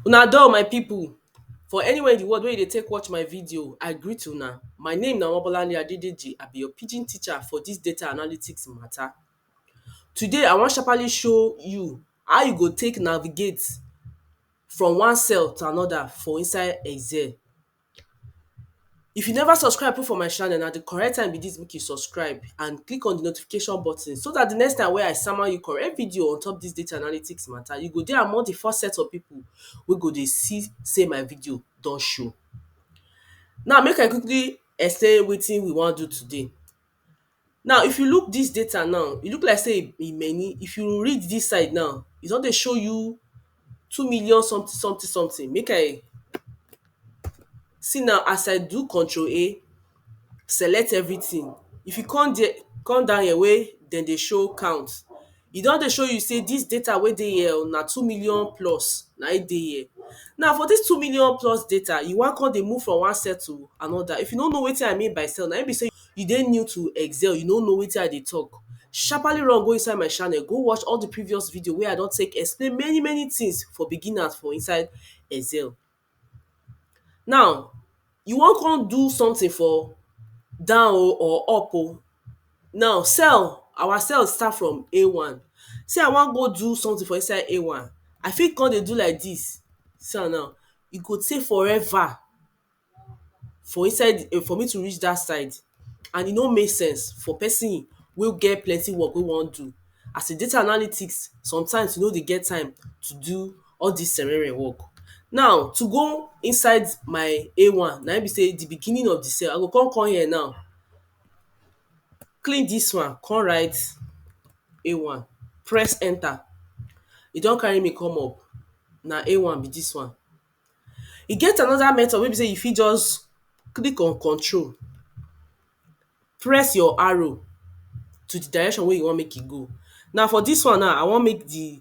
Una doh my people, for anywhere in the world wey you dey take watch my video, I greet una. My name na Omobolanle Adedeji, I be your pidgin teacher for this data analytics matter. Today, I wan sharpaly show you how you go take navigate from one cell to another for inside excel. If you never subscribe put for my channel na di correct time be dis make you subscribe and click on di notification button so dat di next time wey I sama you correct video on top dis data analytics matter you go dey among di first set of people wey go dey see sey my video don show. Now make I quickly explain wetin we wan do today Now if you look dis data now, e look like sey e many, if you read dis side now, e don dey show you two million something something something, make I see now as I do control A, select everything, if you come there, come down here wey dem dey show count E don dey show you sey dis data wey dey here o na two million plus na im dey here. Now for dis two million plus data, you wan come dey move from one cell to another. If you no know wetin I mean by cell, na im be sey you dey new to Excel, you no know wetin I dey talk, sharpaly run go inside my channel go watch all de previous video wey I don take explain many many things for beginners for inside Excel. Now you wan come do something for down o or up o now cell our cell start from a one say I wan go do something for inside a one I fit come dey do like this see am now e go take forever for inside the for me to reach that side and e no make sense for person wey get plenty work wey wan do as a data analytics sometimes you no dey get time to do all dis selenren work. Now to go inside my a one na im be sey di beginning of di cell I go come come here now click dis one come write a one press enter e don carry me come up na a one be dis one. E get another method wey be sey you fit just click on control press your arrow to di direction wey you want make e go. Now for dis one now I want make di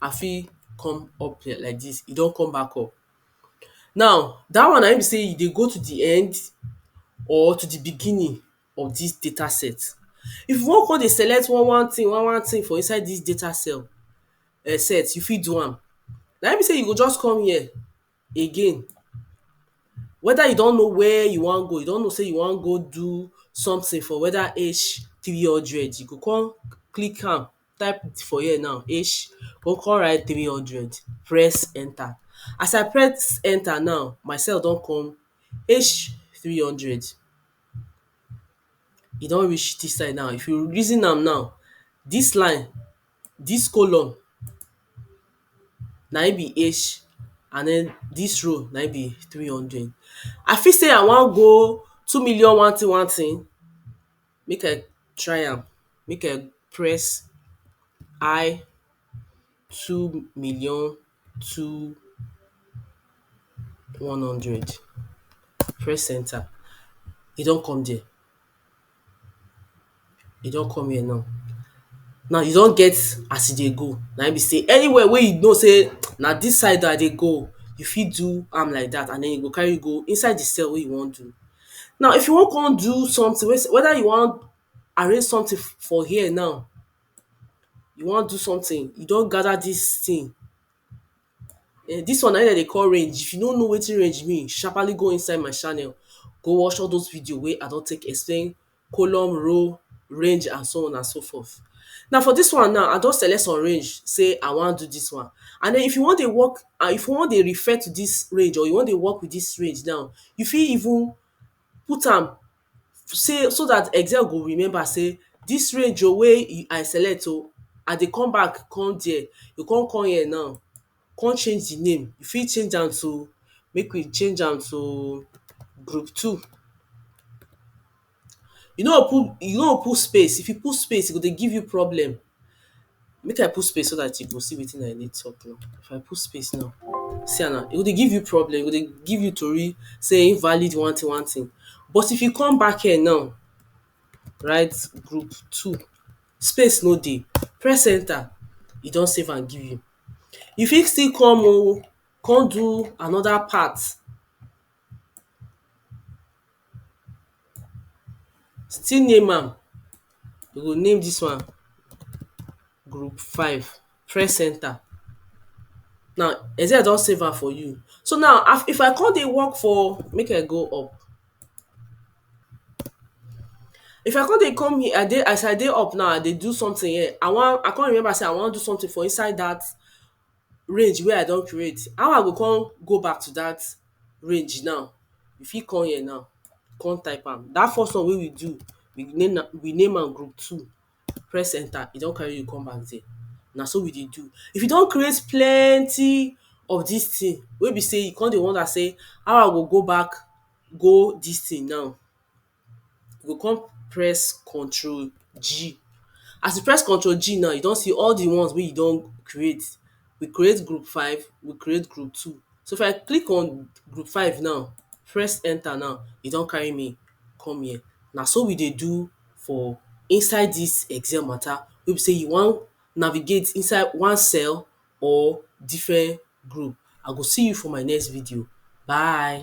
I fit come up here like dis, e don come back up. Now dat one na im be sey e dey go to de end or to de beginning of dis data set. If you wan come dey select one one thing one one thing for inside dis data cell um set, you fit do am. Na im be sey you go just come here again, whether you don know where you wan go, you don know sey you wan go do something for whether H three hundred, you go come click am type for here now H go come write three hundred press enter as I press enter now my cell don come H three hundred e don reach this side now if you reason am now this line this column na him be H and then this row na him be three hundred I fit say I wan go two million one thing one thing make I try am, make I press I two million two one hundred, press enter, e don come there, e don come here now. Now you don get as you dey go, na im be sey anywhere wey you know sey na dis side I dey go, you fit do am like dat and den e go carry you go inside di cell wey you wan do. Now if you wan come do something wey whether you wan arrange something for here now you wan do something you don gather this thing um this one na im dem dey call range if you no know wetin range mean sharpaly go inside my channel go watch all those videos wey I don take explain column, row, range and so on and so forth. Now for dis one now, I don select some range sey I wan do dis one and den if you wan dey work and if you wan dey refer to dis range or you wan dey work with dis range now, you fit even put am sey so dat excel go remember sey dis range oh wey I select oh, I dey come back come there, you go come come here now come change di name, you fit change am to, make we change am to group two. You no put, you no put space, if you put space e go dey give you problem. Make I put space so dat you go see wetin I dey talk now, if I put space now, see am now, e go dey give you problem, e go dey give you tori sey invalid one tin one tin. But if you come back here now, write group two, space no dey, press enter, e don save am give you. you fit still come oh come do another part still name am you go name this one group five press enter now except I don save am for you so now if I come dey work for make I go up If I come dey come here I dey as I dey up now I dey do something here I wan I come remember sey I wan do something for inside that range wey I don create how I go come go back to that range now you fit come here now come type am that first one wey we do we name am we name am group two press enter e don carry you come back there na so we dey do if you don create plenty of this thing wey be sey you come dey wonder sey how I go go back go this thing now you go come press control G as you press control G now you don see all the ones wey you don create we create group five we create group two so if I click on group five now press enter now e don carry me come here na so we dey do for inside dis excel matter wey be sey you wan navigate inside one cell or different group. I go see you for my next video. Bye.